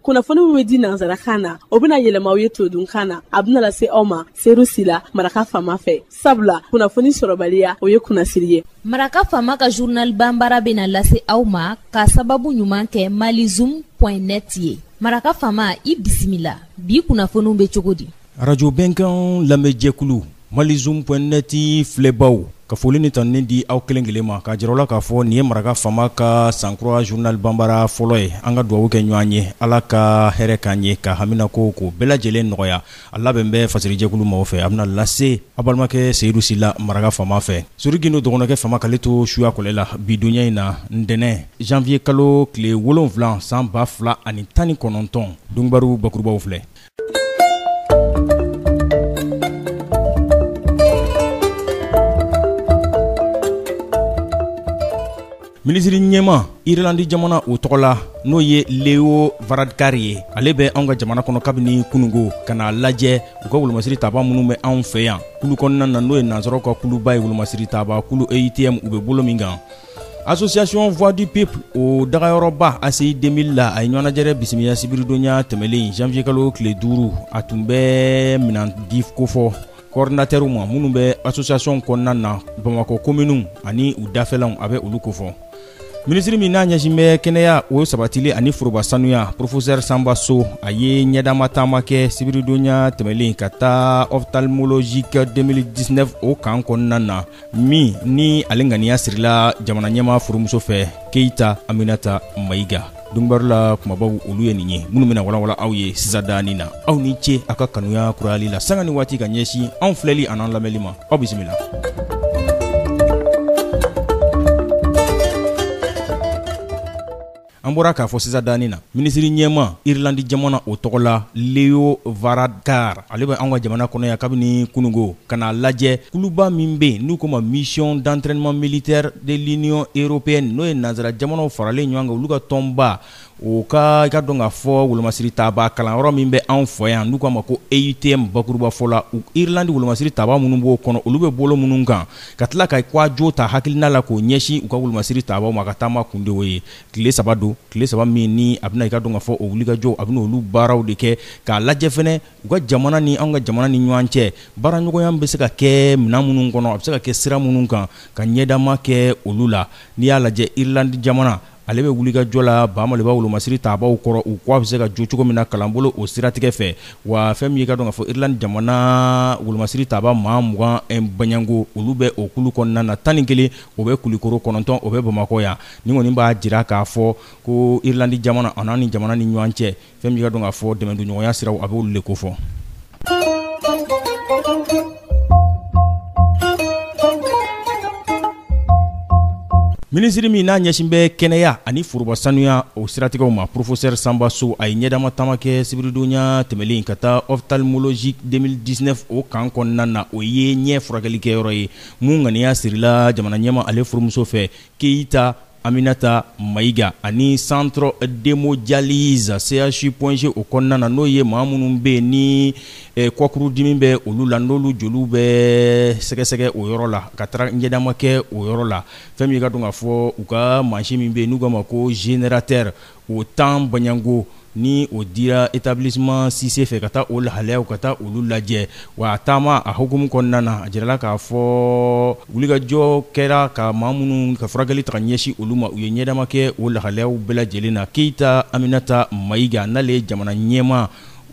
kunnafoni min bɛ di nansarakan na o bɛna yɛlɛma aw ye todunkan na a bɛna lase aw ma seyidu sila maraka faama fɛ sabula kunnafoni sɔrɔbaliya o ye kunnasiri ye maraka faama ka journal banbara bɛna lase aw ma ka sababu ɲuman kɛ mali zoom net ye maraka faama i bisimila bi kunnafoniw bɛ cogo di Radio Bɛnkan lamɛnjɛkulu Mali Zoom point net filɛbaaw, ka foli ni tanuni di aw kelen kelen ma, k'a jira aw la k'a fɔ nin ye maraka faama ka sankura journal banbaara fɔlɔ ye. An ka dugawu kɛ ɲɔgɔn ye, Ala ka hɛrɛ k'an ye, ka haminakow k'o bɛɛ lajɛlen nɔgɔya. A labɛn bɛ fasirijɛkulu maaw fɛ, a bɛna lase aw balimakɛ Seyidu Sila, maraka faama fɛ. Sori Gindo dɔgɔnɔkɛ faama k'ale to suya kɔlɛ la, bi donya in na, ntɛnɛn janvier kalo tile wolonwula san ba fila ani tan ni kɔnɔntɔn. Dunkibaru bakurubaw filɛ. minisiri ɲɛmaa irlandi jamana o tɔgɔ la n'o ye leo varadkar ye ale bɛ anw ka jamana kɔnɔ kabini kunungo ka n'a lajɛ u ka wolomasiri tabaa minnu bɛ anw fɛ yan kulu kɔnɔna na n'o ye nansaraw ka kuluba ye wolomasiri tabaa kulu EUTM u bɛ bolo min kan association voix du peuple o dagayɔrɔba ACI 2000 la a ye ɲɔgɔnnajɛrɛ bisimila sibiridonya tɛmɛlen janvier kalo tile duuru a tun bɛ minan di kofɔ kɔɔridinatɛriw ma minnu bɛ association kɔnɔna na bamakɔ kominiw ani u dafɛlanw a bɛ olu kofɔ minisiri min n'a ɲɛsin bɛ kɛnɛya o sabatili ani foroba sanuya professeur sanba so a ye ɲɛdama taama kɛ sibiridonya tɛmɛlen ka taa ophtalmologique 2019 o kan kɔnɔna na min ni ale ŋaniya sirila jamana ɲɛmaa furumuso fɛ keyita aminata mayiga dunkibaru la kumabaw olu ye nin ye minnu bɛna walawala aw ye sisadani na aw ni ce aw ka kanuya kurayali la sanga ni waati ka ɲɛsin anw filɛli an'an lamɛnli ma aw bisimila An bɔra k'a fɔ sisadani na minisiri ɲɛmaa irilandi jamana o tɔgɔ la leo varadkar ale bɛ an ka jamana kɔnɔ yan kabini kunungo ka n'a lajɛ kuluba min bɛ yen n'u k'o ma mission d'entraînement militaire de l'union européenne n'o ye nansara jamanaw faralen ɲɔgɔn kan olu ka tɔnba o ka k'a dɔn k'a fɔ wolomasiri tabaa kalanyɔrɔ min bɛ anw fɛ yan n'u k'a ma ko EUTM bakurubafɔ la u irilandi wolomasiri tabaa minnu b'o kɔnɔ olu bɛ bolo minnu kan ka tila ka kwajo ta hakilina la k'o ɲɛsin u ka wolomasiri tabaaw ma a ka taama kun de o ye tile saba don tile saba min ni a bɛna i k'a dɔn k'a fɔ o wulikajɔ a bɛna olu baaraw de kɛ k'a lajɛ fɛnɛ u ka jamana ni anw ka jamana ni ɲɔgɔn cɛ baaraɲɔgɔnya bɛ se ka kɛ minɛn minnu kɔnɔ a bɛ se ka kɛ sira minnu kan ka ɲɛdama kɛ olu la n'i y'a lajɛ irilandi jamana ale bɛ wulikajɔ la baamaliba wolomasiri taabaw kɔrɔ u k'a bɛ se ka jɔ cogo min na kalanbolo o siratigɛ fɛ wa fɛn min y'i k'a dɔn k'a fɔ Irlande jamana wolomasiri taaba maa mugan baɲango olu bɛ o kulu kɔnɔna na tan ni kelen o bɛ Kulikoro kɔnɔntɔn o bɛ Bamakɔ yan nin kɔni b'a jira k'a fɔ ko Irlande jamana a n'an ni jamana ni ɲɔgɔn cɛ fɛn min k'a dɔn k'a fɔ dɛmɛdonɲɔgɔnya siraw a b'olu le kofɔ minisiri min n'a ɲɛsin bɛ kɛnɛya ani foroba sanuya o siratigɛw ma porofosɛri sanba sow a ye ɲɛdama taama kɛ sibiridonya tɛmɛlen ka taa ophtalmologique 2019 o camp kɔnɔna na o ye ɲɛ furakɛlikɛyɔrɔ ye min ŋaniya sirila jamana ɲɛmaa ale furumuso fɛ keyita Aminata Mayiga ani centre d'hemodialyse CHU Point G o kɔnɔna na n'o ye maa minnu bɛ yen ni eh, kɔkurudimi bɛ olu la n'olu joliw bɛ sɛgɛsɛgɛ o yɔrɔ la ka taara ɲɛdama kɛ o yɔrɔ la fɛn min k'a dɔn k'a fɔ u ka mansin min bɛ yen n'u k'a ma ko générateur o tan baɲanko ni o dira etablissement Cisse fɛ ka taa o lahalayaw ka taa olu lajɛ, wa a taama a hukumu kɔnɔna na a jirala k'a fɔ wulikajɔ kɛra ka maa minnu ka furakɛli ta ka ɲɛsin olu ma, u ye ɲɛdama kɛ o lahalayaw bɛɛ lajɛlen na. Keyita Aminata Mayiga n'ale ye jamana ɲɛmaa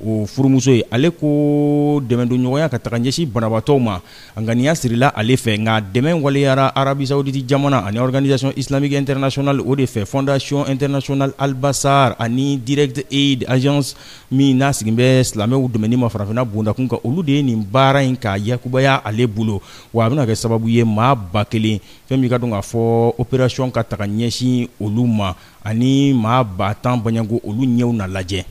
o furumuso ye, ale ko dɛmɛdonɲɔgɔnya k'a ta ka ɲɛsin banabaatɔw ma, A ŋaniya sirila ale fɛ nka dɛmɛ waleyara Arabisawuditi jamana ani organisation islamique internationale o de fɛ fondation internationale Al Bassar ani Direct Aid agence min n'a sigilen bɛ silamɛw dɛmɛni ma farafinna bondakun kan, olu de ye nin baara in k'a yakubaya ale bolo, wa a bɛna kɛ sababu ye maa ba kelen, fɛn min k'a dɔn k'a fɔ operation k'a ta ka ɲɛsin olu ma ani maa ba tan baɲanko olu ɲɛw na lajɛ.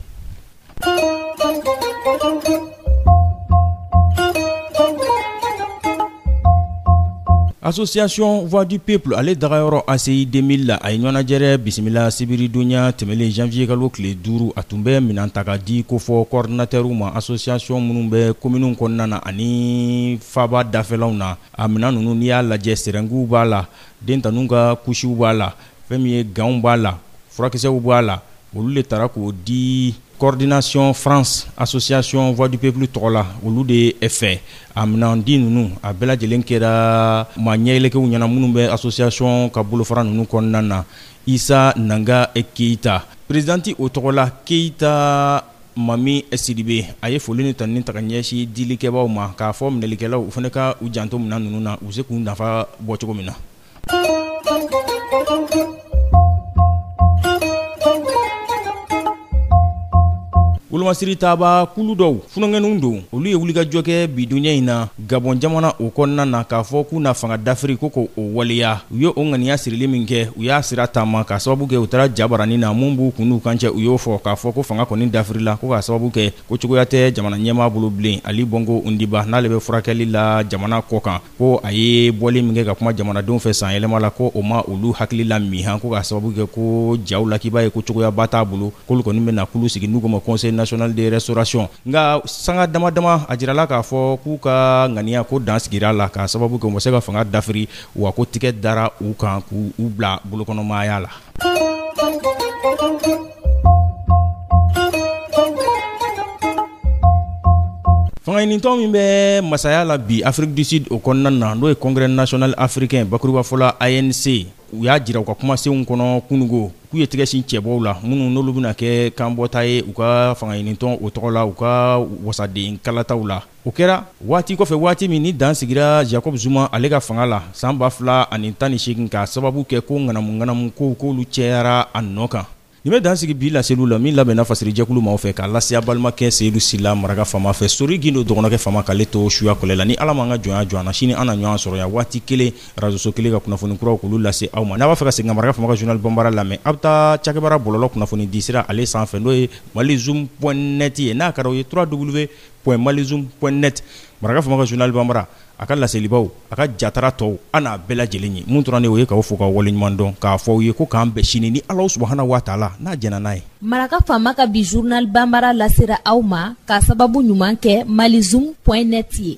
Association voix du peuple ale dagayɔrɔ ACI 2000 la a ye ɲɔnajɛrɛ bisimila sibiridonya tɛmɛlen janvier kalo tile duuru a tun bɛ minɛn ta ka di kofɔ coordinateurw ma association minnu bɛ kominiw kɔnɔna na ani faaba dafɛlaw na a minɛn ninnu n'i y'a lajɛ serɛngiw b'a la den taninw ka kusiw b'a la fɛn min ye ganw b'a la furakisɛw b'a la olu le taara k'o di coordination france association voix du peuple tɔgɔ la olu de fɛ a minɛndi ninnu a bɛɛ lajɛlen kɛra maa ɲɛyɛlɛkɛw ɲɛna minnu bɛ association ka bolofara ninnu kɔnɔna na isa nanga keyita perezidanti o tɔgɔ la keyita mami sidibe a ye foli ni tanuni ta ka ɲɛsin dilikɛbaaw ma k'a fɔ minɛlikɛlaw u fana ka u janto minɛn ninnu na u bɛ se k'u nafa bɔ cogo min na Wolomasiri taabaa kulu dɔw funankɛninw don, olu ye wulikajɔ kɛ bi dunya in na Gabɔn jamana o kɔnɔna na k'a fɔ k'u na fanga dafiri ko k'o waleya. U ye o ŋaniya sirili min kɛ, u y'a sira taama k'a sababu kɛ u taara jabaranin na min b'u kun n'u kan cɛ, u y'o fɔ k'a fɔ ko fanga kɔni dafirila ko k'a sababu kɛ ko cogoya tɛ jamana ɲɛmaa bolo bilen. Ali Bongo Ondimba n'ale bɛ furakɛli la jamana kɔkan. ko a ye bɔli min kɛ ka kuma jamanadenw fɛ san yɛlɛma la ko o ma olu hakili la mi ko k'a sababu kɛ ko jaw la k'i b'a ye ko cogoyaba t'a bolo k'olu kɔni bɛna kulu sigi n'u ko ma conseil national de restauration nka sanga dama dama a jirala k'a fɔ k'u ka ŋaniya ko dan sigira la k'a sababu kɛ u ma se ka fanga dafiri wa ko tigɛ dara u kan k'u bila bolokɔnɔmaya la Fanga ɲinitɔn min bɛ masaya la bi Afrique du Sud o kɔnɔna na n'o ye congrès national africain bakurubafɔ la ANC u y'a jira u ka kumasenw kɔnɔ kunungo k'u ye tɛgɛsin cɛbɔw la minnu n'olu bɛna kɛ kanbɔta ye u ka fanga ɲinitɔn o tɔgɔ la u ka wasaden kalataw la o kɛra waati kɔfɛ waati min ni dan sigira jacob zuma ale ka fanga la san 2018 k'a sababu kɛ ko ŋanamu-ŋanamu kow k'olu cɛyara a nɔ kan nin bɛ dan sigi bi laseliw la min labɛnna fasirijɛkulu maaw fɛ k'a lase a balimakɛ seyidu sila maraka faama fɛ sori gindo dɔgɔnɔkɛ faama k'ale to suya kɔlɛ la ni ala m'an ka jɔnya jɔ an na sini an na ɲɔgɔn sɔrɔ yan waati kelen razoso kelen ka kunnafoni kuraw k'olu lase aw ma n'a b'a fɛ ka segin ka maraka faama ka journal banbara lamɛn a bɛ taa cakɛbara bɔlɔlɔ kunnafoni disira ale sanfɛ n'o ye mali zoom point net ye n'a ka di aw ye www point mali zoom point net maraka faama ka journal banbara a ka laselibaw a ka jatara tɔw an n'a bɛɛ lajɛlen ye mun tora ne o ye k'aw fo k'aw waleɲumandɔn k'a fɔ aw ye ko k'an bɛn sini ni ala subuhana wa taala n'a jɛnna n'a ye maraka faama ka bi journal banbara lasera aw ma k'a sababu ɲuman kɛ mali zoom point net ye